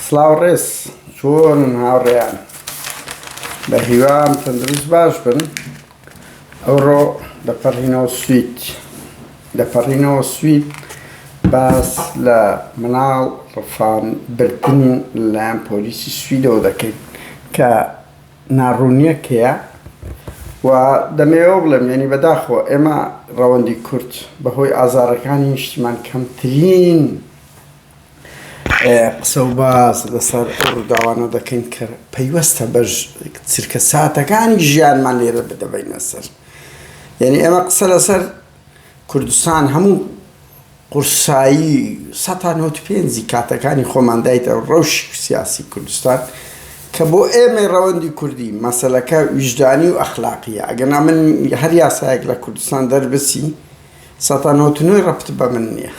سڵاو ڕێز چۆنن هاوڕێیان بە هیوام تەندروست باش بن ئەوڕۆ دەپەڕینەوە سوید دەپەڕینەوە سوید باس لە مناڵ ڕفان بردن لەلایەن پۆلیسی سویدەوە دەکەین کە ناڕوونیەکەیە و دەمەوێەوە بڵێم یعنی بەداخەوە ئێمە ڕەوەندی کورد بەهۆی ئازارەکانی نیشتیمان کەمترین قسە و باس لەسەر ئەو ڕووداوانە دەکەین کە پەیوەستە بە چرکەساتەکانی ژیانمان لێرە دەبەینە سەر یعنی ئێمە قسە لەسەر کوردستان هەموو قورسایی سەتا نەوت پێنجی کاتەکانی خۆماندایتە ڕەوش سیاسی کوردستان کە بۆ ئێمە ڕەوەندی کوردی مەسلەکە ویژدانی و ئەخلاقیە ئەگەنا من هەر یاسایەک لە کوردستان دەربسی سەتا نەوەت و نۆی ڕەبت بە من نیە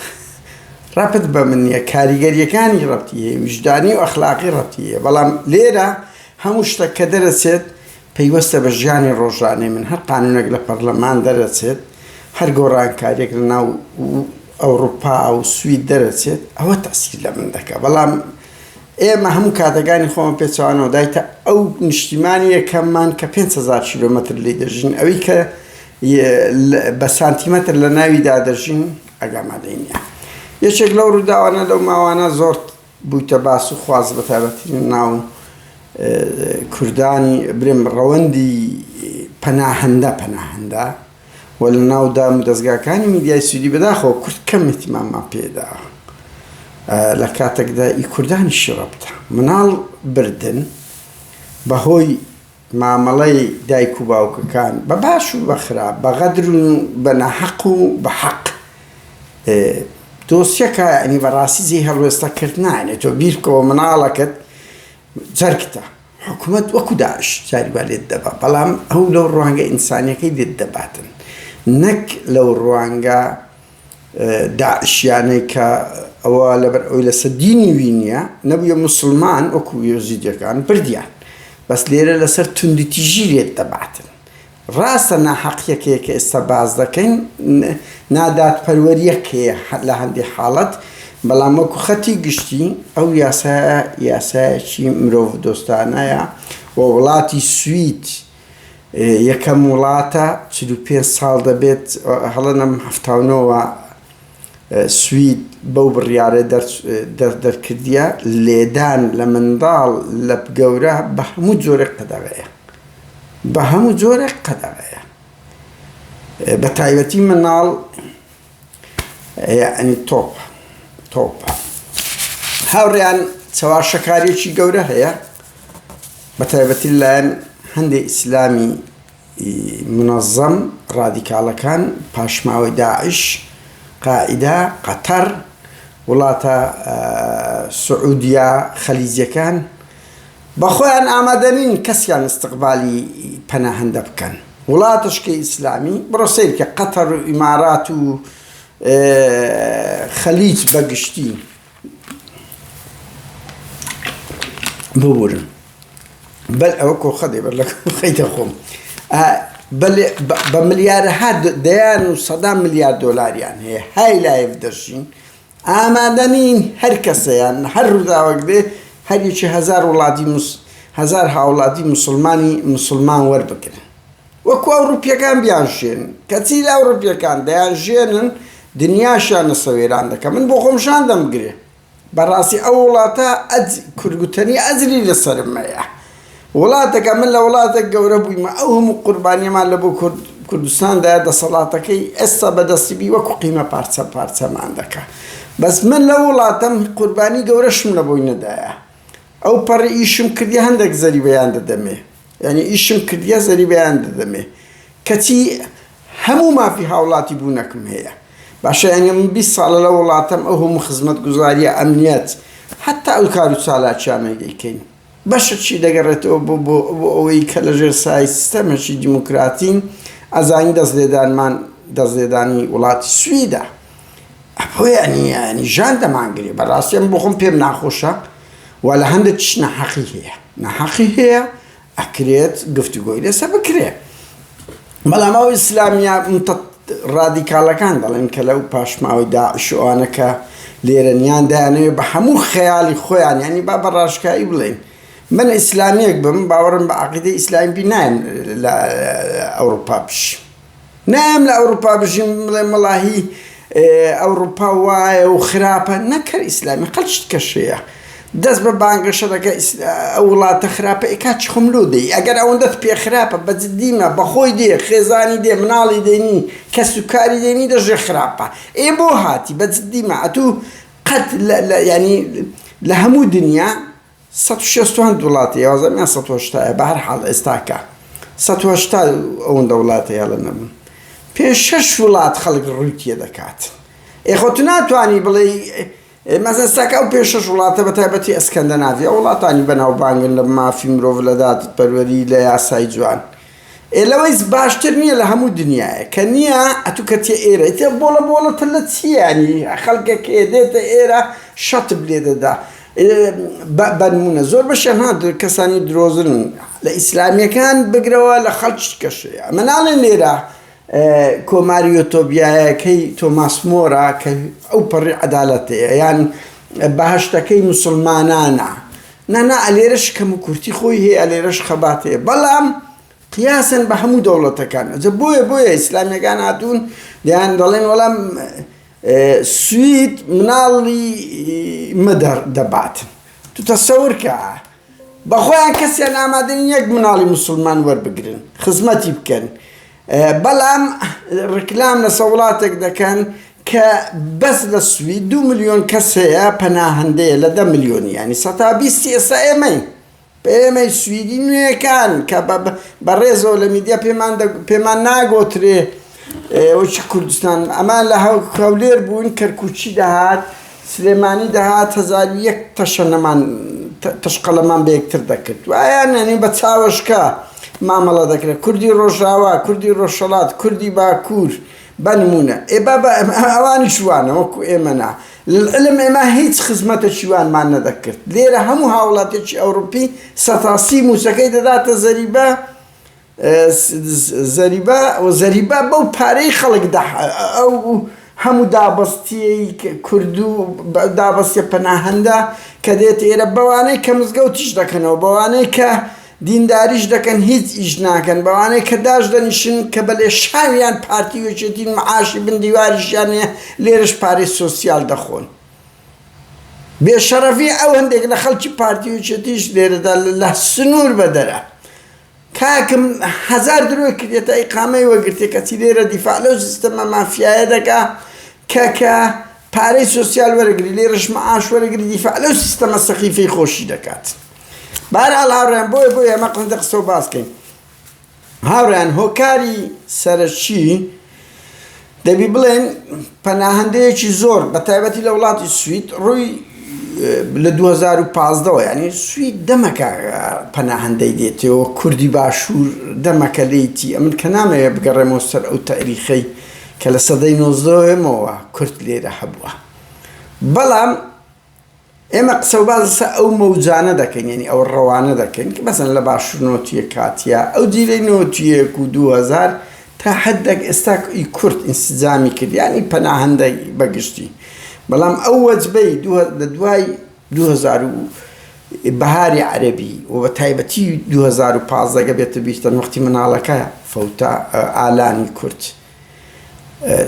ڕەبت بە من نیە کاریگەریەکانی ڕەبتی هەیە ویژدانی و ئەخلاقی ڕەبتی هەیە بەڵام لێرە هەموو شتەک کە دەرەچێت پەیوەستە بە ژیانی ڕۆژانەی من هەر قانونێک لە پەرلەمان دەرەچێت هەر گۆڕانکاریەک لە ناو ئەوروپا و سوید دەرەچێت ئەوە تەسیر لە من دەکە بەڵام ئێمە هەموو کاتەکانی خۆمە پێچوانەوە دایتە ئەو نیشتیمانی یەکەممان کە 500 کیلومتر لی دەژین ئەوی کە ی بە سانتیمەتر لە ناویدا دەژین ئەگ ئامادەی نیە. یەکێک لەو ڕووداوانە لەو ماوانە زۆر بوویتە باس و خواس بە تایبەتی لە ناو کوردانی برێم ڕەوەندی پەناهەندە پەناهەندە و لە ناو دام و دەزگاکانی میدیای سویدی بەداخەوە کورد کەم ئیتماممان پێدا لە کاتەکدا ئی کوردانیشی ڕەبتە مناڵ بردن بە هۆی مامەڵەی دایک و باوکەکان بە باش و بە خراپ، بە غەدر و بە ناحەق و بە حەق. ئێ دۆسیەکە یانی بە ڕاستی جێی هەڵوێستە کردنە. یانی تۆ بیر بکەوە مناڵەکەت جەرگتە. حکومەت وەکو داعش جاری وا لێت دەبا. بەڵام ئەو لەو ڕوانگە ئینسانیەکەی لێت دەباتن. نەک لەو ڕوانگە داعشیانەی کە ئەوە لەبەر ئەوی لەسەر دینی وی نیە نەبویە موسڵمان وەکو یەزیدیەکان بردیان بەس لێرە لەسەر توندوتیژی لێت دەباتن ڕاستە ناحەقیەکەیە کە ئێستا باس دەکەین نادادپەروەریەک هەیە لە هەندی حاڵەت بەڵام وەکو خەتی گشتی ئەو یاسایە یاسایەکی مرۆڤ دۆستانەیە و وڵاتی سوید یەکەم وڵاتە چل و پێنج ساڵ دەبێت هەڵە نەم حەفتا و نۆ وە سوید بەو بڕیارە دەرکردیە لێدان لە منداڵ لە گەورە بە هەموو جۆرێک قەدەغەیە بە هەموو جۆرێک قەدەغەیە بە تایبەتی مناڵ یەعنی تۆپ تۆپە هاوڕێیان چەواشەکاریەکی گەورە هەیە بە تایبەتی لایەن هەندێک ئیسلامی منەظەم ڕادیکاڵەکان پاشماوەی داعش قائیدا قەتەر وڵاتە سعودیا خەلیجەکان بە خۆیان ئامادە نین کەسیان استقبالی پەناهەندە بکەن وڵاتشکە ئیسلامی بڕۆ سەیر کە قەتەر و ئیمارات و خەلیج بە گشتی ببورن بەل ئەوە کۆخە دێ بەر لە خەیتە خۆم بە ملیارەها دەیان و سەدا ملیار دۆلاریان هەیە های لایف دەژین ئامادە نین هەر کەسە یان هەر ڕووداوەک بێ هەر یەکی هەزار وڵاتی موس هەزار هاوڵاتی موسڵمانی موسڵمان وەربگرن وەکو ئەوڕوپیەکان بیانژێنن کەچی ئەوڕوپیەکان دەیانژێنن دنیاشیان لەسە وێران دەکەن من بۆ خۆم شان دەمگرێ بەڕاستی ئەو وڵاتە ئەج کورد گوتەنی ئەجری لەسەرم مەیە. وڵاتەکە من لە وڵاتەک گەورە بوویمە ئەو هەموو قوربانیەمان لە بۆ کورد کوردستان دایە دەسەڵاتەکەی ئێستا بەدەستی بی وەکو قیمە پارچە پارچەمان دەکا بەس من لە وڵاتەم قوربانی گەورەشم لە بۆی نەدایە ئەو پەڕی ئیشم کردی هەندێک زەری بەیان دەدەمێ یعنی ئیشم کردیە زەری بەیان دەدەمێ کەچی هەموو مافی هاوڵاتی بوونەکم هەیە باشە یعنی من بی ساڵە لە وڵاتەم ئەو هەموو خزمەت گوزاریە ئەمنیەت حتا ئەو کار و چالاکیانەی دەیکەین بەشەکی دەگەڕێتەوە بۆ بۆ بۆ ئەوەی کە لە ژێر سایەی سیستەمێکی دیموکراتین، ئەزانی دەست لێدانمان دەست لێدانی وڵاتی سویدە. ئەپۆ یانی یانی ژان دەمانگرێ بە ڕاستی ئەمە بۆ خۆم پێم ناخۆشە و لە هەندێکیش ناحەقی هەیە ناحەقی هەیە ئەکرێت گفتوگۆی لەسە بکرێ. بەڵام ئەو ئیسلامیە متەت ڕادیکاڵەکان دەڵێن کە لەو پاشماوەی داعش و ئەوانە کە لێرەن یان دەیانەوێت بە هەموو خەیاڵی خۆیان یانی با بە ڕاشکایی بڵێین من ئیسلامیەک بم باوەڕم بە عقیدەی ئیسلامی بی نایم لە ئەوروپا بژیم نایم لە ئەوروپا بژیم بڵێم وەڵاهی ئەوڕوپا وایە و خراپە نەک هەر ئیسلامی قەت شت کەش هەیە دەست بە بانگەشە دەکا ئیسلا وڵاتە خراپە ئێ کاچی خۆم لۆ دێی ئەگەر ئەوەندەت پێ خراپە بە جدی مە بە خۆی دێ خێزانی دێ مناڵی دێ نی کەس و کاری دێ نی دەشێ خراپە ئێ بۆ هاتی بە جدی مە ئەتوو قەت لە لە یانی لە هەموو دنیا سەد و شەست و هەند وڵاتی یازم یان سەد و هەشتا یە بەهەر حاڵ ئێستاکە سەد و هەشتا ئەوەندە وڵاتە یاڵە نەبوون پێنج شەش وڵات خەڵک ڕووی تێ دەکات ئێ خۆ تو ناتوانی بڵێی مەزن ئێستاکە ئەو پێنج شەش وڵاتە بە تایبەتی ئەسکەندەناڤیا وڵاتانی بەناوبانگن لە مافی مرۆڤ لە دادپەروەری لە یاسای جوان ئێ لەوەیس باشتر نیە لە هەموو دنیایە کە نیە ئەتو کەچیە ئێرە ئیتر بۆڵە بۆڵەتە لە چی یانی خەڵکێک ئێدێتە ئێرە شەتب لێ دەدا بە نمونە زۆر بەشیان ها کەسانی درۆزن لە ئیسلامیەکان بگرەوە لە خەڵکی کەشێ ئەمە ناڵێن لێرە کۆماری یۆتۆبیایەکەی تۆماس مۆرا کە ئەو پەڕی عەدالەتەیە یان بەهشتەکەی مسلمانانە نا نا ئەلێرەش کەم و کورتی خۆی هەیە ئەلێرەش خەبات هەیە بەڵام قیاسەن بە هەموو دەوڵەتەکان ئەجە بۆیە بۆیە ئیسلامیەکان هاتوون دەیان دەڵێن وەڵام سوید مناڵی مەدەر دەبات تو تەسەورکە بەخۆیان کەسیان ئامادەن یەک مناڵی مسلمان وەربگرن خزمەتی بکەن بەڵام ڕیکلام لەسەر وڵاتێک دەکەن کە بەس لە سوید دوو ملیۆن کەس هەیە پەناهەندەیە لە دە ملیۆنی یانی سەتا بیستی ئێستا ئێمەین ئێمەی سویدی نوێکان کە بە ڕێزەوە لە میدیا پێمان پێمان ناگۆترێ وەکی کوردستان ئەمان لە هەولێر بوون کەرکوچی دەهات سلێمانی دەهات هەزار و یەک تەشەنەمان تەشقەلەمان بە یەکتر دەکرد وایان یانی بە چاوەشکا مامەڵە دەکرێت کوردی ڕۆژاوا کوردی ڕۆژهەڵات کوردی باکوور بەنمونە ئێ بابا ئەوانی شوانە وەکو ئێمەنا علم ئێمە هیچ خزمەتە شیوانمان نەدەکرد لێرە هەموو هاوڵاتێکی ئەوروپی سەتاسی مووسەکەی دەداتە زەریبە زەریبا زەریبا بەو پارەی خەڵک دە ئەو هەموو دابەستیەی کردو دابەستە پەناهەندە کە دێت ئێرە بەوانەی کە مزگەوتیش دەکەنەوە بەوانەی کە دینداریش دەکەن هیچ ئیش ناکەن بەوانەی کە داش دەنیشن کە بە لێ شاویان پارتی وەچێتین معاشی بن دیواریشیان هەیە لێرش پارەی سۆسیال دەخۆن بێ شەڕەفی ئەو هەندێک لە خەڵکی پارتی وچێتیش لێرەدا لە سنور بەدەرە. کاکم هەزار درۆی کردیەتە ئیقامەی وەگرتێ کەچی لێرە دیفاع لەو سیستەمە مافیایە دەکا کە کە پارەی سۆسیال وەرەگری لێرەش معاش وەرەگری دیفاع لەو سیستەمە سەخیفەی خۆشی دەکات بارال هاوڕێن بۆیە بۆیە ئەمە قسە قسە و باسکەین هاوڕێن هۆکاری سەرەکی دەبی بڵێین پەناهەندەیەکی زۆر بە تایبەتی لە وڵاتی سوید ڕووی لە 2015ەوە ینی سوید دەمەکە پەناهەندەی دێتەوە کوردی باشوور دەمەکە لێتی ئەمن کە نامەوێ بگەڕێمەوە سەر ئەو تاریخەی کە لە سەدەی نۆزدەوەمەوە کورد لێرە هەبووە بەڵام ئێمە قسە و باس لەسەر ئەو مەوجانە دەکەین، یانی ئەو ڕەوانە دەکەین کە مەسەلەن لە باشوور نۆتییە کاتییە، ئەو جیلەی نۆتی یەک و دوو هەزار تا حەددێک ئێستا ی کورد ئینسجامی کرد، یانی پەناهەندەی بە گشتی، بەڵام ئەو وەجبەی لە دوای دوو هەزار و بەهاری عەرەبی و بە تایبەتی دوو هەزار و پازدە گە بێتە بیرتان وەختی مناڵەکە فەوتا ئالانی کورد،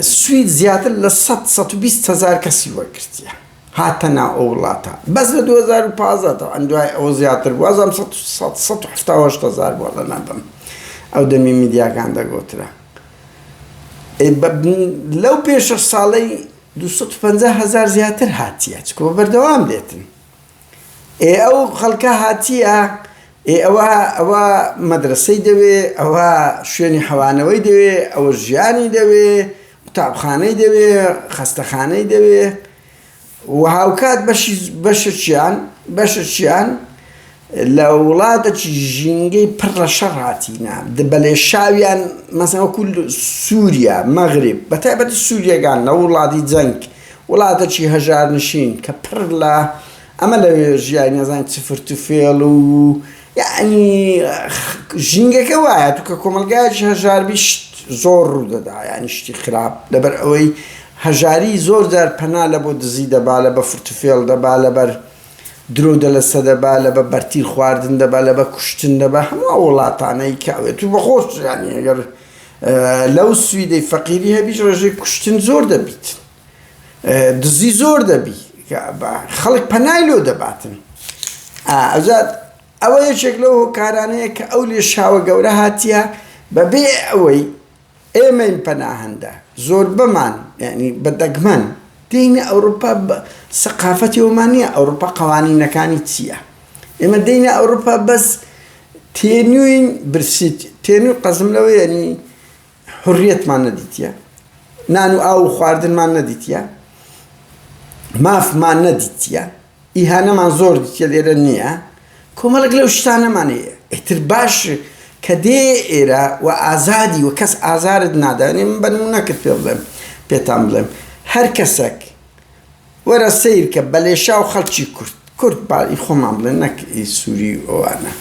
سوید زیاتر لە سەد سەد و بیست هەزار کەسی وەرگرتیە هاتە ناو ئەو وڵاتە بەس لە دوو هەزار و پازدە تەبعەن دوای ئەوە زیاتر بوو وازم سەد سەد سەد و حەفتا و هەشت هەزار بووە لە ناردم ئەو دەمی میدیاکان دەگۆترا لەو پێ شەش ساڵەی دوو سەد و پەنجا هەزار زیاتر هاتیە چکۆ بەردەوام دێتن. ئێ ئەو خەڵکە هاتیە ئێ ئەوە ئەوە مەدرەسەی دەوێ ئەوە شوێنی حەوانەوەی دەوێ ئەوە ژیانی دەوێ قوتابخانەی دەوێ خەستەخانەی دەوێ و هاوکات بەشی بەشێکیان بەشێکیان لە وڵاتەکی ژینگەی پڕ لە شەڕ هاتینە بە لێشاویان، مەسەن وەکو سوریا، مەغریب، بە تایبەتی سوریەکان لە وڵاتی جەنگ، وڵاتەکی هەژارنشین کە پڕ لە ئەمە لە ژیانی نازانین چ فرتوفێڵ و یەعنی ژینگەکە وایە تو کە کۆمەڵگایەکی هەژار بی شت زۆر ڕوو دەدا یەعنی شتی خراپ لەبەر ئەوەی هەژاری زۆر جار پەنا لە بۆ دزی دەبا لە بە فرتوفێڵ دەبا لەبەر درۆ دەلە سەدە بە لە بە بەرتیل خواردن دە بە لە بە کوشتن دە بە هەموو ئەو وڵاتانەی کە ئەوێ تو بە خۆش زانی ئەگەر لەو سویدەی فەقیری هەبیش ڕێژەی کوشتن زۆر دەبیت دزی زۆر دەبی خەڵک پەنای لۆ دەباتن ئەزاد ئەوە یەکێک لەو هۆکارانەیە کە ئەو لێشاوە گەورە هاتیە بەبێ ئەوەی ئێمەی پەناهەندە زۆربەمان یانی بە دەگمەن دێینە ئەوروپا بە سەقافەتی ئەومان نیە ئەوروپا قەوانینەکانی چیە ئێمە دێینە ئەوروپا بەس تێنوین برسی تێنوی قەزم لەوە یانی حوریەتمان نەدیتیە نان و ئاو و خواردنمان نەدیتیە مافمان نەدیتیە. ئیهانەمان زۆر دیتیە لێرە نیە کۆمەڵێک لەو شتانەمان هەیە ئیتر باش کە دێ ئێرە و ئازادی و کەس ئازارت نادانێ من بە نمونە کرد پێ بڵێم پێتان بڵێم هەر کەسەک وەرە سیر کە بە لێشا و خەڵکی کورد کورد باڵی خۆمان بڵێن نەک ئی سووری و ئەوانە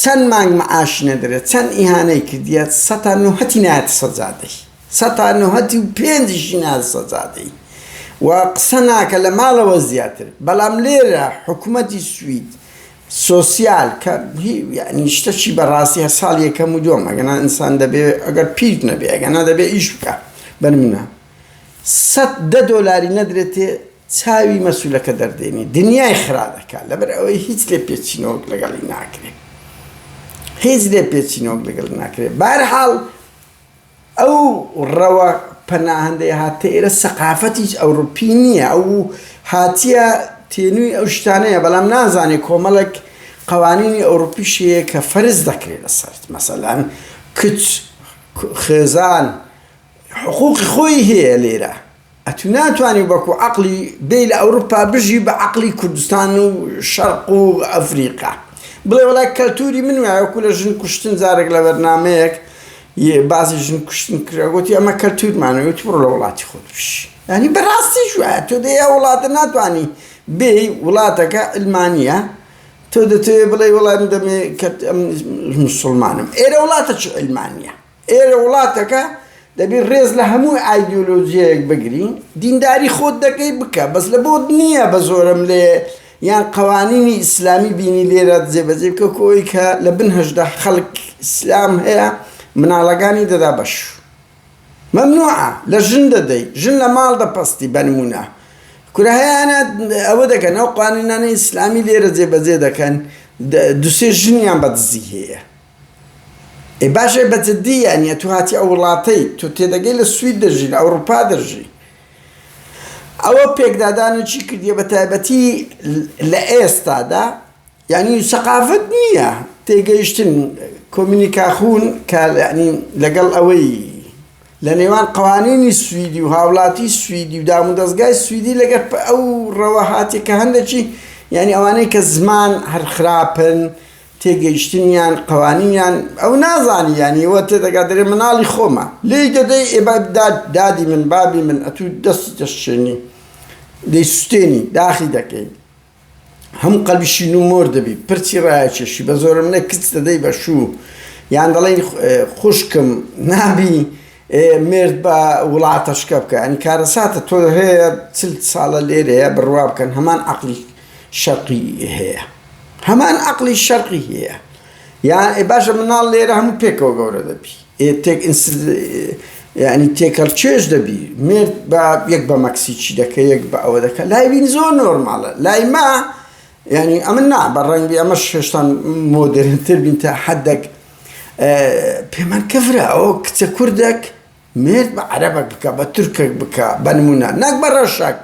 چەند مانگ معاش نەدرێت چەند ئیهانەی کردیە سەتا نوهەتی نایەتە سەجادەی سە تا نە هەتی و پێنج ژینا سە زادەی و قسە ناکە لە ماڵە وە زیاتر بەڵام لێرە حکومەتی سوید سۆسیال کە هی یانی شتە چی بە ڕاستی هە ساڵ یە کەم و دووەم ئەگە نا ئینسان دەبێ ئەگەر پیر نەبێ ئەگە نا دەبێ ئیش بکە بەرمنە سە دە دۆلاری نەدرێتێ چاوی مەسولەکە دەردێنی دنیای خرا دەکات لەبەر ئەوەی هیچ لێ پێچینەوەک لەگەڵی ناکرێت هیچ لێ پێچینەوەک لەگەڵ ناکرێت بارحاڵ ئەو ڕەوە پەناهەندەی هاتتە ئێرە سەقافەتیی ئەوڕوپی نییە، ئەو هاتییە تێنووی ئەو شتانەیە، بەڵام نازانێ کۆمەڵێک قەوانینی ئەوڕوپیش هەیە کە فەرز دەکرێ لەسەرت، مەسەلەن کچ، خێزان حقووقی خۆی هەیە لێرە. ئەتو ناتوانی وەکو عەقڵی بێی لە ئەوروپا بژی بە عەقڵی کوردستان و شەرق و ئەفریقا بڵێ وەڵا کەلتوری من وایە وەکو لە ژن کوشتن جارێک لە بەرنامەیەک باسی ژن کوشتن کرا گوتی ئەمە کەلتورمانە وتی بڕۆ لە وڵاتی خۆت بژی یانی بەڕاستیش وایە تۆ دێ ئەو وڵاتە ناتوانی بێی وڵاتەکە علمانیە تۆ دەتەوێ بڵێ وەڵا من دەمێ کە مسوڵمانم ئێرە وڵاتە چ علمانیە ئێرە وڵاتەکە دەبی ڕێز لە هەموو ئایدیۆلۆجیەیەک بگری دینداری خۆت دەکەی بکە بەس لە بۆت نییە بە زۆرم لێ یان قەوانینی ئیسلامی بینی لێرە جێبەجێ بکە کۆی کە لە بن هەژدە خەڵک ئیسلام هەیە مناڵەکانی دەدا بەش مەمنوعە لە ژن دەدەی ژن لە ماڵ دەپەستی بەنمونە کورە هەیەە ئەوە دەکەن ئەو قوانینانە ئیسلامی لێرە جێبەجێ دەکەن دوسێ ژنیان بەدزی هەیە ئێ باش ئێ بە جدی یانی ئەتو هاتی ئەو وڵاتەی تۆ تێدەگەی لە سوید دەژی لە ئەوڕوپا دەژی ئەوە پێکدادانو چی کردیە بە تایبەتی لە ئێستادا یانی سەقافەت نیە تێگەیشتن کۆمینیکاخون کە یانی لەگەڵ ئەوەی لە نێوان قەوانینی سویدی و هاوڵاتی سویدی و دامو دەزگای سویدی لەگەر ئەو ڕەوە هاتیە کە هەندەکی یانی ئەوانەی کە زمان هەر خراپن تێگەیشتنیان قەوانینیان ئەو نازانی یانی وە تێدەگات دەرێ مناڵی خۆمە لێی دەدەی ئێ با داد دادی من بابی من ئەتوو دەستی دەشچێنی دەی سوتێنی داخی دەکەی هەموو قەلبی شین و مۆر دەبی پرچی ڕایەکێشی بە زۆرم نە کچ دەدەی بە شوو یان دەڵێی خوشکم نابی مرد بە وڵاتە شکە بکە ئەنی کارەساتە تۆ هەیە چل ساڵە لێرەیە بڕوا بکەن هەمان عقلی شەقی هەیە هەمان عەقڵی شەرقی هەیە یان ئێ باشە مناڵ لێرە هەموو پێکەوە گەورە دەبی ئێ تێک ئینس یعنی تێکەڵ چێژ دەبی مێرد بە یەک بە مەکسیکی دەکە یەک بە ئەوە دەکە لای بین زۆر نۆرماڵە لای ما یعنی ئەمە نا بە ڕەنگی ئەمە شێشتان مۆدرنتر بین تا حەدەک پێمان کەفرە ئەو کچە کوردێک مێرد بە عەرەبەک بکە بە تورکێک بکە بە نمونە نەک بە ڕەشەک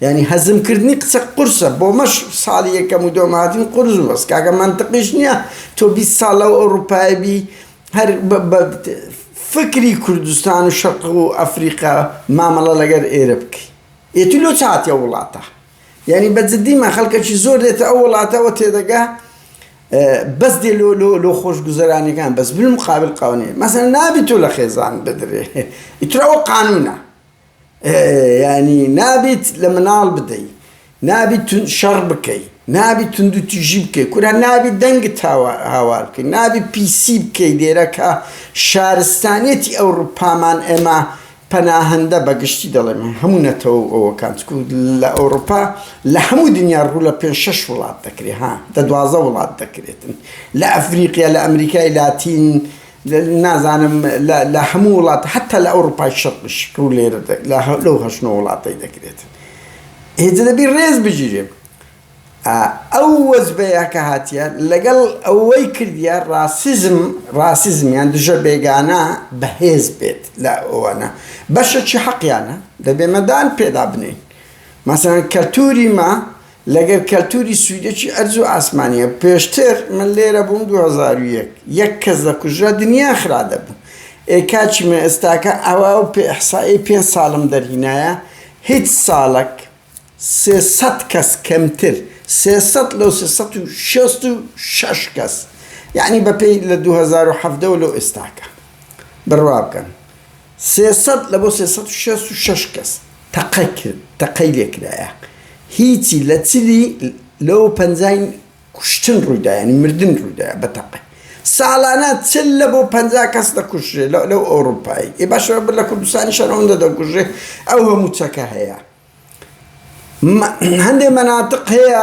یانی هەزم کردنی قسە قورسە بۆمەش ساڵی یەکەم و دوەم هاتین قورس و بەس کاکە مەنتقیش نیە تۆ بیست ساڵ لەو ئەوڕوپایە بی هەر بە فکری کوردستان و شەرق و ئەفریقا مامەڵە لەگەر ئێرە بکەی ئێ تو لۆ چ هاتی ئەو وڵاتە یانی بە جدی من خەڵکەکی زۆر دێتە ئەو وڵاتەوە تێدەگا بەس دێ لۆ لۆ لۆ خۆش گوزەرانەکان بەس بلم قابل قاونێ مەسەن نابی تۆ لە خێزان بدرێ ئیتراوە قانونە یانی نابیت لە مناڵ بدەی نابیت شەڕ بکەی نابیت توندو تیژی بکەی کورە نابیت دەنگت هاوار بکەی نابیت پیسی بکەی لێرە کە شارستانیەتی ئەوڕوپامان ئێمە پەناهەندە بە گشتی دەڵێم هەموو نەتەوە و ئەوەکان چکو لە ئەوڕوپا لە هەموو دنیا ڕوو لە پێنج شەش وڵات دەکرێ ها دە دوازە وڵات دەکرێتن لە ئەفریقیا لە ئەمریکای لاتین نازانم لە لە هەموو وڵات حتا لە ئەوڕوپای شەرقیش کە و لێرە لە هە لەو هەشت نۆ وڵاتەی دەکرێت ئێجە دەبی ڕێز بگیرێ ئەو وەجبەیە کە هاتیە لەگەڵ ئەوەی کردیە ڕاسیزم ڕاسیزمیان دژە بێگانە بەهێز بێت لە ئەوانە بەشەکی حەقیانە دەبێ مەدان پێدا بنێین مەسەن کەلتوری ما لەگەر کەلتوری سویدەکی ئەرز و ئاسمانیە پێشتر من لێرە بووم دوو هەزار و یەک یەک کەس دەکوژرا دنیا خرا دەبوو ئێ کاکی من ئێستاکە ئەوا و پێ ئحسائەی پێنج سالم دەرهینایە هیچ سالەک سێ سەد کەس کەمتر سێ سەد لەو سێ سەد و شەست و شەش کەس یەعنی بە پێی لە دوو هەزار و حەڤدە و لەو ئێستاکە بڕوا بکەن سێ سەد لە بۆ سێ سەد و شەست و شەش کەس تەقە کرد تەقەی لێ کرایە هیچی لە چلی لەوە پەنجاین کوشتن ڕوویدا یانی مردن ڕوویدا بە تەقەی ساڵانە چل لە بۆ پ کەس دەکوژێ لەو ئەوروپایی ئێ باش بر لە کوردستانی شەرەوەندە دەکوژێ ئەو هەموو چەکە هەیە هەندێ مەناتق هەیە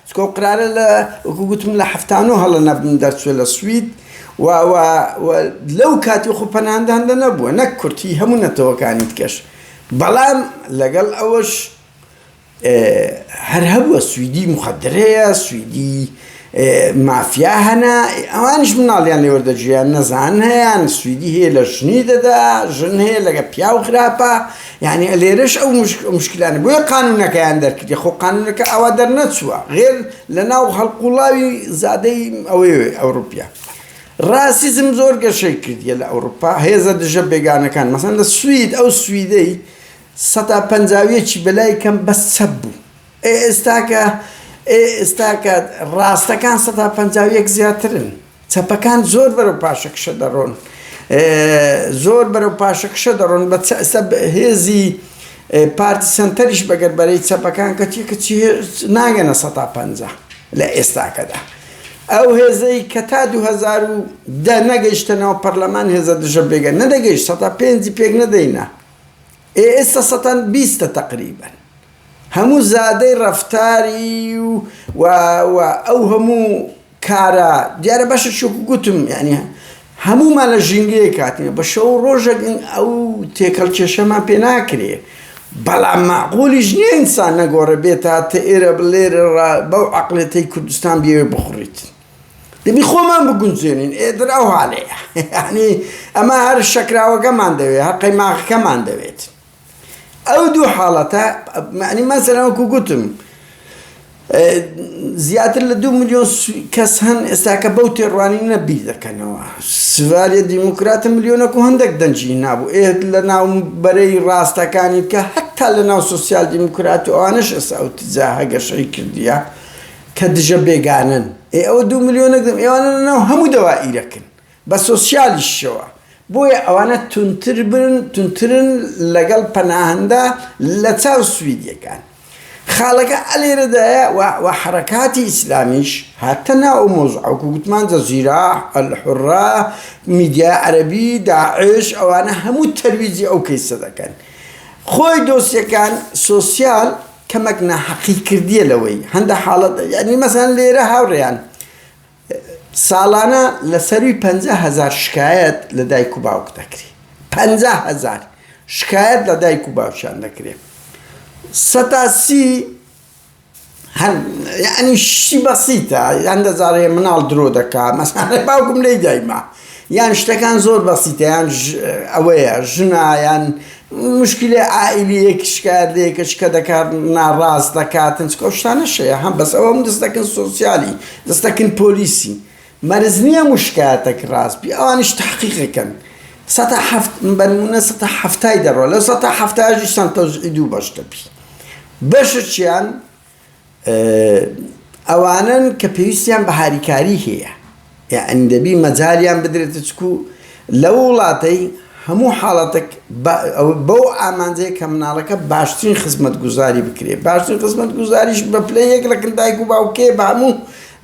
چونکە ئەو قرارە لە وەکو گوتم لە حەفتا نۆ هەڵە نەبم دەرچووە لە سوید و و و لەو کاتی وەخۆ پەناهەنداندا نەبووە نەک کورد هی هەموو نەتەوەکانی دیکەش بەڵام لەگەڵ ئەوەش هەر هەبووە سویدی مخدرەیە سویدی مافیا هەنا ئەوانش مناڵیان لێ وەردەگیران نەزان هەیان سویدی هەیە لە ژنی دەدا ژن هەیە لەگە پیاو خراپە یانی لێرەش ئەو مشکلانە بۆیە قانونەکەیان دەرکردی خۆ قانونەکە ئەوە دەرنەچووە غێر لە ناو هەڵقوڵاوی زادەی ئەوەی ئەوروپیا ڕاسیزم زۆر گەشەی کردیە لە ئەوروپا هێزە دژە بێگانەکان مەسەن لە سوید ئەو سویدەی سەتا پەنجاویەکی بەلای کەم بەس چەپ بوو ئێستاکە ئێستاکە ڕاستەکان سەتا پەنجاویەک زیاترن چەپەکان زۆر بەرەو پاشەکشە دەڕۆن زۆر بەرەو پاشەکشە دەڕۆن بە هێزی پارتی سەنتەریش بەگەر بەرەی چەپەکان کەچی کەچی ناگەنە سەتا پ لە ئێستاکەدا ئەو هێزەی کە تا 2010 نەگەیشتەنەوە پەرلەمان هێزە دژە بێگە نەدەگەیشت سەتا پێنجی پێک نەدەینە ئێ ئێستا سەتان بیستە تەقریبن هەموو زادەی ڕەفتاری و و ئەو هەموو کارە دیارە باشە چۆکو گوتم یعنی هەموومان لە ژینگەیەک هاتین بە شەو ڕۆژێک ئەو تێکەڵ کێشەمان پێ ناکرێ بەڵام معقولیش نیە ئینسان نەگۆڕە بێت تا تە ئێرە بلێر بەو عقلێتەی کوردستان بێ بخڕیت دەبی خۆمان بگونجێنین ئێدر ئەو هاالەیە ینی ئەمە هەر شەکراوەکەمان دەوێت هەر قەیماخەکەمان دەوێت ئەو دوو حاڵەتە، یانی مەسەلەن وەکو گوتم زیاتر لە دوو ملیۆن کەس هەن ئێستاکە بەو تێڕوانینە بیر دەکەنەوە، سڤاریە دیموکراتە ملیۆنەک و هەندەک دەنگی نابوو، ئێ لە ناو بەرەی ڕاستەکانی کە هەتا لە ناو سۆسیال دیموکرات و ئەوانەش ئێستا ئەو تزە هەگەشەی کردیە کە دژە بێگانەن، ئێ ئەوە دوو ملیۆنەک ئێوانە لە ناو هەموو دەوائیرەکن. بە سۆسیالیشەوە، بۆیە ئەوانە توندترن لەگەڵ پەناهەندە لە چاو سویدیەکان. خاڵەکە ئەلێرەدایە و حەرەکاتی ئیسلامیش هاتە ناو ئەو مەوزوعە وەکو گوتمان جەزیرە، ئەلحورە، میدیای عەرەبی، داعش ئەوانە هەموو تەرویجی ئەو کەیسە دەکەن. خۆی دۆسیەکان سۆسیال کەمەک ناحەقی کردیە لەوەی هەندە حاڵەت یانی مەسەلەن لێرە هاوڕێیان ساڵانە لە سەرووی پەنجا هەزار شکایەت لە دایک و باوک دەکرێ پەنجا هەزار شکایەت لە دایک و باوکیان دەکرێ سەتا سی هەن یانی شتی بەسیتە یان دەزانێ مناڵ درۆ دەکا مەسەلەن باوکم لێی دایما یان شتەکان زۆر بەسیتە یان ئەوەیە ژنە یان مشکلی عائلیەک شکایەت لە یەکە شکە دەکات ناڕاست دەکات چکۆشتانە شەیە هەم بەس ئەوەم دەست دەکەن سۆسیالی دەست دەکەن پۆلیسی مەرز نییە مشکاتەک ڕاستبی ئەوانیش تحقیقەکەن سەتا هەفت بەرمونە سەتا هەفتای دەڕۆ لە سەتا هەفتاژی سەنتۆزعی دوو بەش دەبی بەشە چیان ئەوانەن کە پێویستیان بە هاریکاری هەیە، یەعنی دەبی مەجالیان بدرێتە چکو لەو وڵاتەی هەموو حاڵەتەک بەو ئامانجەیە کە مناڵەکە باشترین خزمەتگوزاری بکرێت، باشترین خزمەتگوزاریش بە پلە یەک لە کن دایک و باوکێ بە هەموو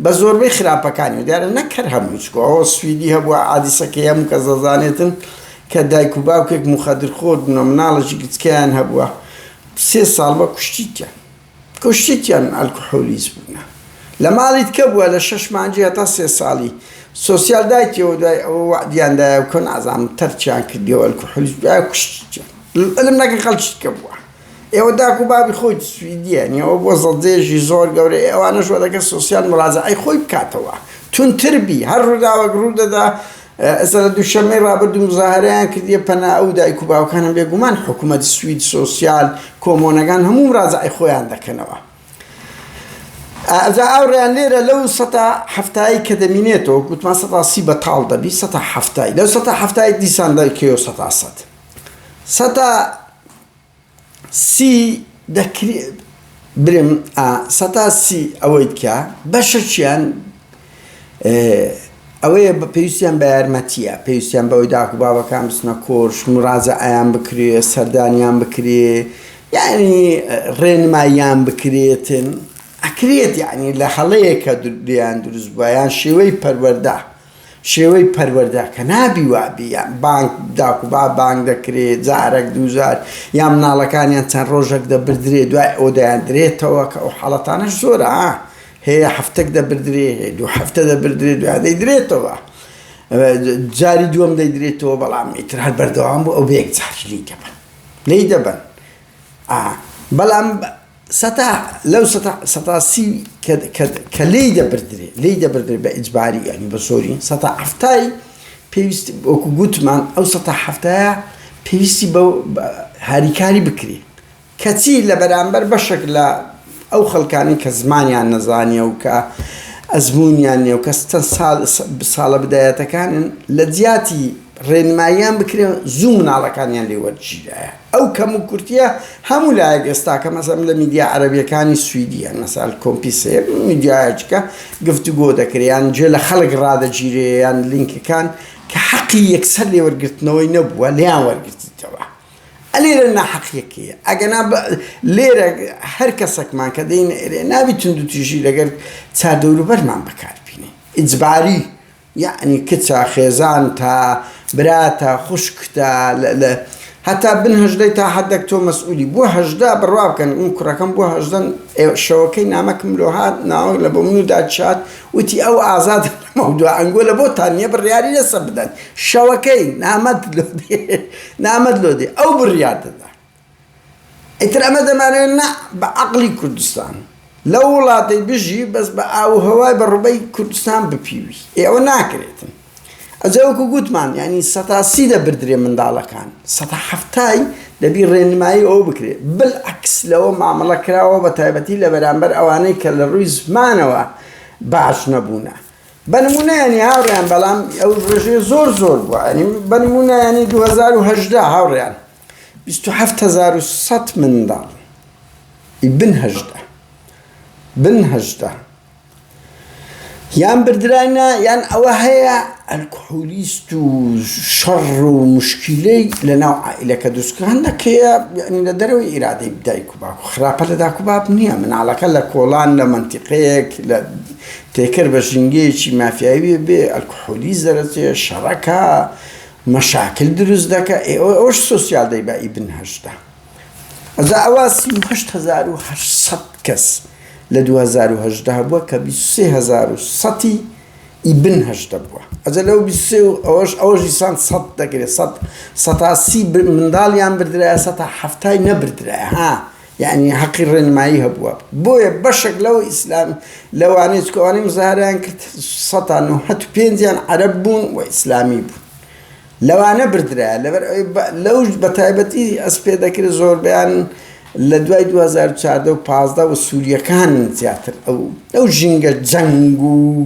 بە زۆربەی خراپەکانی و دیارە نەک هەر هەمووی چکو ئەوە سویدی هەبووە عادیسەکەی هەموو کەس دەزانێتن کە دایک و باوکێک موخەدرخۆر بوونە مناڵێکی گچکەیان هەبووە سێ ساڵ بە کوشتیتیان. کوشتیتیان ئەلکحولیس بوونە لە ماڵی تکە بووە لە شەش مانجی هەتا سێ ساڵی سۆسیال دایتیەوە دوای ئەوە وەعدیان دایە و کە نازانم تەرکیان کردیەوە ئەلکحولیس دوای کوشتیتیان علم نەکەن خەڵکی تکە بووە ئێوە داک و بابی خۆی سویدیە نیەوە بۆ زەڵدێژی زۆر گەورەی ئەوانەش وەدەکە سۆسیال مڕازەعەی خۆی بکاتەوە تونتر بی هەر ڕووداوەک ڕوو دەدا ئێستا لە دووشەممەی ڕابردوو مزاهەرەیان کردیە پەنا ئەو دایک و باوکانە بێگومان حکومەت سوید سۆسیال کۆمۆنەگان هەموو مراجعەی خۆیان دەکەنەوە ئەجا ئاوڕیان لێرە لەو سەتا هەفتایی کە دەمینێتەوە گوتمان سەتا سی بەتاڵ دەبی سەتا هەفتایی لەو سەتا هەفتایی دیسان دەکەوە سەتا سەد سەتا سی دەکرێت برێم ئا سەتا سی ئەوەیت کە بەشەکیان ئەوەیە بە پێویستیان بە یارمەتیە پێویستیان بەوەی داکو بابەکان بچنە کۆش مڕازە ئایان بکرێ سەردانیان بکرێ یعنی ڕێنماییان بکرێتن ئەکرێت یعنی لە هەڵەیەکە دریان دروست بووە یان شێوەی پەروەەردە شێوەی پەروەردە کە نابی وابی یان بانگ داکوبا بانگ دەکرێ جارەک دووجار یان مناڵەکانیان چەند ڕۆژەک دەبردرێ دوای ئەوە دەیاندرێتەوە کە ئەو حاڵەتانەش زۆرە هەیە هەفتەک دەبردرێ هەیە دوو هەفتە دەبردرێ دوای دەیدرێتەوە جاری دووەم دەیدرێتەوە بەڵام ئیتر هەر بەردەوام بوو ئەو بە یەک جاری لی دەبن لی دەبن بەڵام سەتا لەو سەتا سەتا سی کە کە کە لێی دەبردرێ لێی دەبردرێ بە ئیجباری یانی بە زۆری سەتا حەفتای پێویست وەکو گوتمان ئەو سەتا حەفتایە پێویستی بە هاریکاری بکرێ کەچی لە بەرامبەر بەشێک لە ئەو خەڵکانی کە زمانیان نەزانیە و کە ئەزمونیان نیە و کە ستە سال ساڵە بدایەتەکانن لە جیاتی ڕێنماییان بکرێ زوو مناڵەکانیان لێ وەرگیرایە ئەو کەموکورتیە هەموو لایەک ئێستا کە مەسەلەن لە میدیا عەرەبیەکانی سویدیە مەسال کۆمپیسێ میدیایەکە گفتوگۆ دەکرێ یان جێ لە خەڵک ڕادەگیرێ یان لینکەکان کە حەقی یەکسەر لێوەرگرتنەوەی نەبووە لێیان وەرگرتیتەوە ئەلێرە ناحەقیەکەیە ئەگەنا لێرە هەر کەسەکمان کە دەین ئێرێ نابی تونند و تیژی لەگەر چادەوروبەرمان بەکاربینێ ئیجباری یەعنی کچە، خێزانتە، براتە، خوشکتە، لە هەتا بن هەژدەی تا حەدەک تۆ مەسئولی، بۆ هەژدە بڕوا بکەن من کوڕەکەم بۆ هەژدەن ئێ شەوەکەی نامەکم لۆ هات ناوەک لە بۆ منو داد شاد وتی ئەو ئازادە لەمەو دوا ئەنگۆ لە بۆتان نیە بڕیاری لەسە بدەن شەوەکەی نامەت لۆ دێ نامەت لۆ دێ ئەو بڕیار دەدا. ئیتر ئەمە دەمانەوێت نا بە عەقڵی کوردستان لەو وڵاتەی بژی بەس بە ئاو و هەوای بە ڕوبەی کوردستان بپیوی ئێ ئەوە ناکرێتن ئەجا وەکو گوتمان یانی سەتا سی دەبردرێ منداڵەکان سەتا حەفتای دەبی ڕێنمایی ئەوە بکرێ بلعکس لەوە مامەڵە کراوە بە تایبەتی لە بەرامبەر ئەوانەی کە لە ڕووی زمانەوە باش نەبوونە بەنمونەیانی هاوڕیان بەڵام ئەو ڕێژێ زۆر زۆر بووە ئەنی بەنمونەیانی 2010 هاوڕیان بیست و حەفت هەزار و سەد منداڵ ی بن هەژدە بن هەژدە یان بردراینە یان ئەوە هەیە ئەلکحولیست و شەڕ و مشکیلەی لە ناو عائلەکە دروستکران دەکەیە یعنی لە دەرەوەی ئیرادەی دایک و باک و خراپە لە داک و باب نییە مناڵەکە لە کۆڵان لە منتیقەیەک لە تێکر بە ژینگەیەکی مافیاویە بێ ئەلکحولیست دەرەچێ شەڕەکە مەشاکل دروست دەکا ئێ ئەوەش سۆسیال دەی بە ئیبن هەشدا ئەجا ئەوە سی و هەشت هەزار و هەشت سەد کەس لە دوو هەزار و هەژدە بووە کە بیست و سێ هەزار و سەتی ئیبن هەشدە بووە ئەجا لەو بیست و سێ و ئەوەش ئەوەش دیسان سەد دەگرێت سەد سەتا سی منداڵیان بردرایە سەتا حەفتای نەبردرایە ها یانی هەقی ڕێنمایی هەبووە بۆیە بەشەک لەو ئیسلام لەوانەی چکە ئەوانەی مزاهەرەیان کرد سەتا نۆهەت و پێنجیان عەرەب بوون و ئیسلامی بوون لەوانە بردرایە لەبەر ئەوی لەوش بە تایبەتی ئەسپ پێ دەکرێت زۆربەیان لە دوای 2014 و پازدە و سووریەکان زیاتر ئەو ئەو ژینگە جەنگ و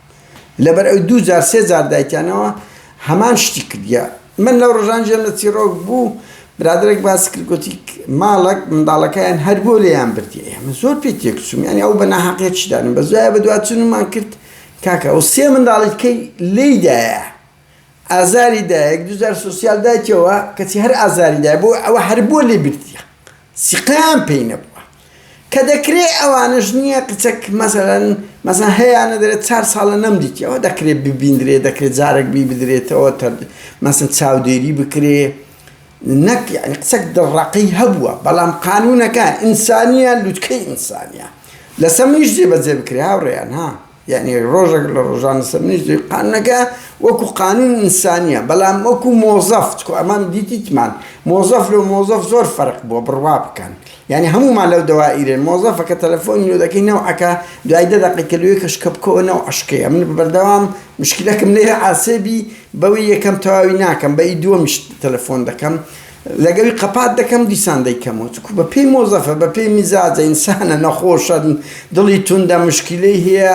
لەبەر ئەوی دوو جار سێ جار دایتیانەوە هەمان شتی کردیە من لەو ڕژان ژێم لە چیڕۆک بوو برادێک باس کرد گوتی ماڵک منداڵەکەیان هەر بۆ لێیان بردیە ئێمە زۆر پێ تێکچوم یانی ئەو بە ناحقێکشدانم بە زای بە دوچنمان کرد کاکە ئەو سێ منداڵیکەی لێدایە ئازاری دایک دوزار سۆسیال دایکەوە کەچی هەر ئازاری دای بۆ ئەوە هەر بۆ لێ بردیە سیقام پێی نەبووە کە دەکرێ ئەوانش نییە قچەک مەسەرەن مەسەن هەیەیانە دەرێت چار ساڵە نەم دیتەوە دەکرێت ببیندرێ دەکرێت جارێک بی بدرێتەوە تەر مەسن چاودێری بکرێ نەک یعنی قچەک دڕەقی هەبووە بەڵام قانونەکان ئینسانیان لوتکەی ئینسانیان لەسەر منیش جێبەجێ بکرێ هاوڕێیان ها یەعنی ڕۆژەک لە ڕۆژان سەرنیشتی قانونەکە وەکو قانون ئینسانیە بەلام وەکو مۆزەف چکۆ ئەمان دیتیتمان مۆزەف لۆ مۆزەف زۆر فەرق بووە بڕوا بکەن یەعنی هەموومان لەو دەوائیرێن مۆزەفە کە تەلەفۆنی لۆ دەکەی نەوعەکە دوای دە دەقەی کە لوێ کەشکە بکەوە نەوع عەشقەیە من بەردەوام مشکلەکم لێرە عاسێبی بەوەی یەکەم تەواوی ناکەم بەی دووەمیش تەلەفۆن دەکەم لەگەوی قەپات دەکەم دیسان دەیکەمەوە چونکو بە پێی مۆزەفە بە پێی میزاجە ئینسانە نەخۆشە دڵی توندە مشکلەی هەیە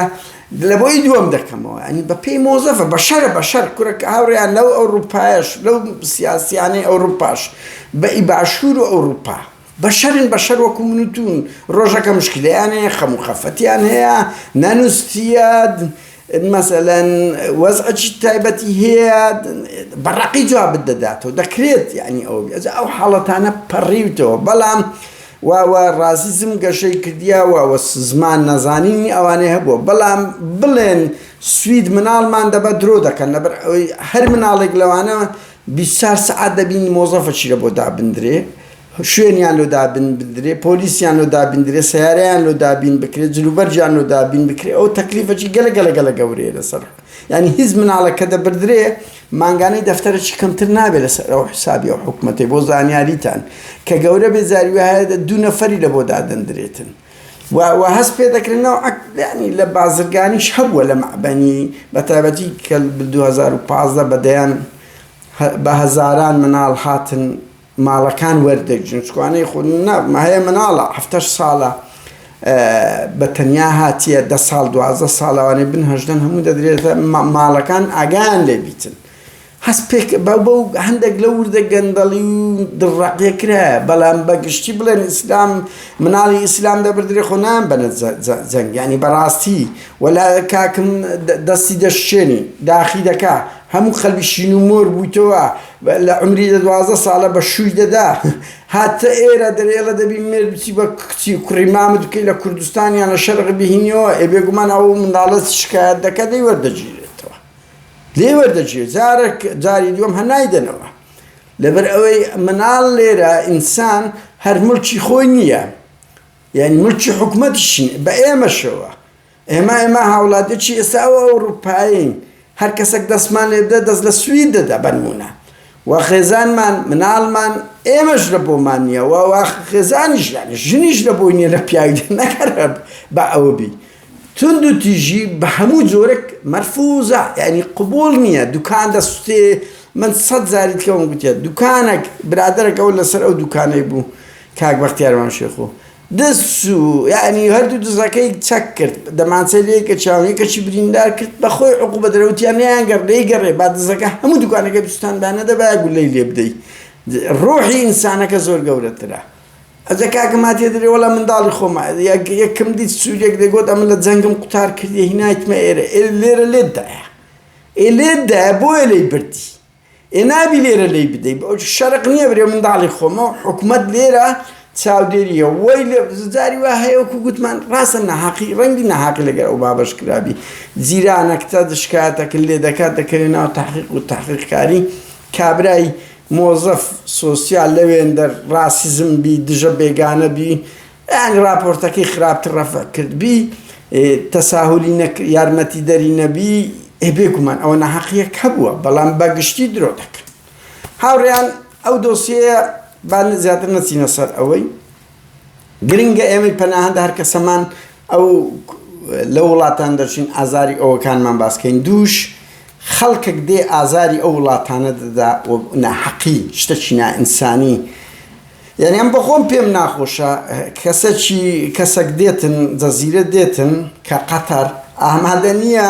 لە بۆی دووەم دەکەمەوە ئەنی بە پێی مۆزەفە بە شەرە بە شەر کورە کە هاوڕیان لەو ئەوروپایش لەو سیاسیانەی ئەوروپاش بە ئی باشوور و ئەوروپا بە شەرن بە شەر وەکو من و تون ڕۆژەکە مشکلیان هەیە خەم و خەفەتیان هەیە نەنووسیە مەسەلەن وەزعێکی تایبەتی هەیە بە ڕەقی جوابت دەداتەوە دەکرێت یعنی ئەو بێت ئەو حاڵەتانە پەڕیوتەوە بەڵام واوە ڕازیزم گەشەی کردیاوە وە زمان نەزانینی ئەوانەی هەبووە بەڵام بڵێن سوید مناڵمان دەبە درۆ دەکەن لەبەر ئەوەی هەر مناڵێک لەوانە بیسار سعات دەبین مۆزەفەشیرە بۆ دابدرێ شوێنیان لۆ دابین بدرێ، پۆلیسیان لۆ دابین درێ، سەیارەیان لۆ دابین بکرێ، جلوبەرگیان لۆ دابین بکرێ، ئەوە تەکلیفەکی گەلە گەلە گەلە گەورەیە لەسەر، یانی هیچ مناڵێک کە دەبردرێ مانگانەی دەفتەرەکی کەمتر نابێ لەسەر ئەو حسابی ئەو حکومەتەی، بۆ زانیاریتان کە گەورە بێ جاری وایە دوو نەفەری لە بۆ دادەندرێتن و و هەست پێ دەکرێ نەوعە یانی لە بازرگانیش هەبووە لە مەعبەنی بە تایبەتی کە دوو هەزار و پازدە بە دەیان بە هەزاران مناڵ هاتن ماڵەکان وەردەگرن چکوانەی خۆ نا ماهەیە مناڵە هەفتەش ساڵە بە تەنیا هاتیە دە ساڵ دوازدە ساڵەوانی بن هەژدەن هەموو دەدرێتە ماڵەکان ئاگان لێ بیتن هەست پێک بە بە هەندێک لە وردە گەندەڵی و دڕڕاقیە کرا بەڵام بە گشتی بڵێن ئیسلام مناڵی ئیسلام دەبدرێ خۆ نان بەە جەنگانی بەڕاستی وەلا کاکم دەستی دەشتێنی داخی دەکا هەموو خەلبیشین و مۆر بوویتەوە بە لە عومری دە دوازدە سالە بە شووی دە دا هە تە ئێرە دە رێڵە دە بی مێرد بچی بە کچی و کوڕی مامت بکەی لە کوردستان یان لە شەرق بیهینیەوە ئێ بێگومان ئە و منداڵە شکایەت دە کە دەی وەردە گیرێ لێی وەردەجێ جارێک جاری دووەم هە نایدەنەوە لەبەر ئەوەی مناڵ لێرە ئینسان هەر ملکی خۆی نییە یعنی ملکی حکومەتیشین بە ئێمەشەوە ئێمە ئێمە هاوڵاتیەکی ئێستا ئەو ئەوروپایین هەر کەسەک دەستمان لێ بدە دەست لە سوید دەدا بەنمونە و خێزانمان مناڵمان ئێمەش لە بۆمان نییە و وا خێزانیش یانی ژنیش لە بۆی نیە لە پیاوی نەکەر بە ئەوە بی تند و تیژی بە هەموو جۆرەك مەرفوزە یعنی قبول نییە دوکان دەسوتێ من سەد زاری تکەوم گوتیە دوکانێک برادێکەوە لەسەر ئەو دوکانەی بوو کاک بەختیارمان شێخۆ دز چوو یانی هەردوو دزەکەی چەک کرد دەمانچەی لێ کەچاو یەکەشی بریندار کرد بەخۆی عقوبە درا وتیان نەیانگەڕ دەیگەڕێ با دزەکە هەموو دوکانەکەی بسوتاند با نەدەبایە گوللەی لێ بدەی ڕۆحی ئینسانەکە زۆر گەورەترە ئەجە کاکە ما تێ دەرێ وەڵا منداڵی خۆمە یەکم دیت سوورێک دەگوت ئەمە لە جەنگم قوتار کردی هینایتمە ئێرە لێرە لێتدایە ئێ لێتدایە بۆیە لێی بردی ئێ نابی لێرە لێی بدەی شەرق نیە برێ منداڵی خۆمە و حکومەت لێرە چاودێریە وەی لێ زجاری وا هەیە وەکو گوتمان ڕاستە نەهاقی ڕەنگی نەهاقی لەگەر ئەو بابەش کرابی جیرانەکتە دشکاتەکن لێ دەکات دەکەوێ ناو تحقیق و تحقیقکاری کابرای مۆزەف سۆسیال لەوێندەر ڕاسیزم بی دژە بێگانە بی ئەگ ڕاپۆرتەکەی خراپتر ڕەفع کردبی تساهولی نەک یارمەتی دەری نەبی ئێ بێگومان ئەوە ناحەقیەک هەبووە بەڵام بەگشتی درۆ دەکرد هاوڕێیان ئەو دۆسیەیە با زیاتر نەچینە سەر ئەوەی گرنگە ئێمەی پەناهەندە هەر کەسەمان ئەو لە وڵاتان دەچین ئازاری ئەوەکانمان باسکەین دووش خەڵکێک دێ ئازاری ئەو وڵاتانە دەدا ناحەقی شتەکی نائینسانی یانی ئەم بەخۆم پێم ناخۆشە کەسەکی کەسەک دێتن جەزیرە دێتن کە قەتەر ئامادە نیە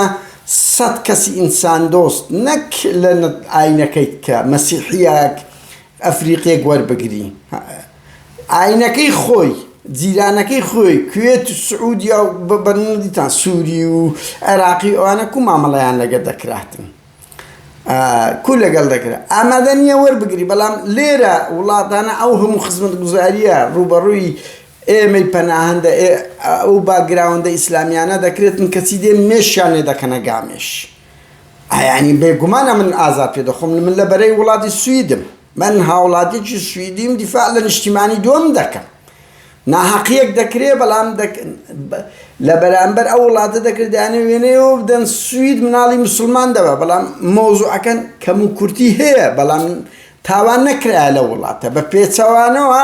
سەد کەسی ئینسان دۆست نەک لە ئاینەکەیت کە مەسیحیەک ئەفریقیەک وەربگری ئاینەکەی خۆی جیرانەکەی خۆی کوێت و سعودیە و بە بەرنی دیتان سوری و عێراقی ئەوانە کو مامەڵەیان لەگە دەکراتن. کو لەگەڵ دەکرا ئامادە نیە وەربگری بەڵام لێرە وڵاتانە ئەو هەموو خزمەتگوزاریە ڕووبەڕووی ئێمەی پەناهەندە ئەو باگراوەندە ئیسلامیانە دەکرێتن کەچی دێن مێشیان لێ دەکەنە گامێش ئەیانی بێگومان ئەمن ئازار پێ دەخۆم من لە بەرەی وڵاتی سویدم من هاوڵاتیکی سویدیم دیفاع لە نیشتیمانی دووەم دەکەم ناهەقیەک دەکرێ بەڵام لە بەرامبەر ئەو وڵاتە دەکرێت دانێ وێنەیەوە بدەن سوید مناڵی مسلمان دەبە بەڵام مۆزوعەکەن کەم و کورتی هەیە بەڵام تاوان نەکرایە لە وڵاتە بە پێچەوانەوە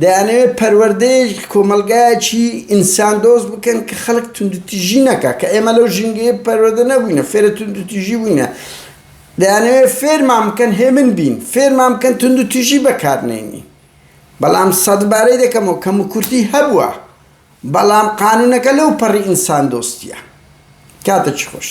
دەیانەوێت پەروەردەیە کۆمەلگایەکی ئینسان دۆست بکەن کە خەڵک توندتیژی نەکە کە ئێمە لەو ژینگەیە پەروەدە نەبووینە فێرە توندتیژی بووینە دەیانەوێت فێرمان بکەن هێمن بین، فێرمان بکەن توندوتیژی بەکارنەینین، بەڵام سەدبارەی دەکەمەوە، کەموکورتی هەبووە، بەڵام قانوونەکە لەوپەڕی ئینساندۆستییە. کاتەکی خۆش.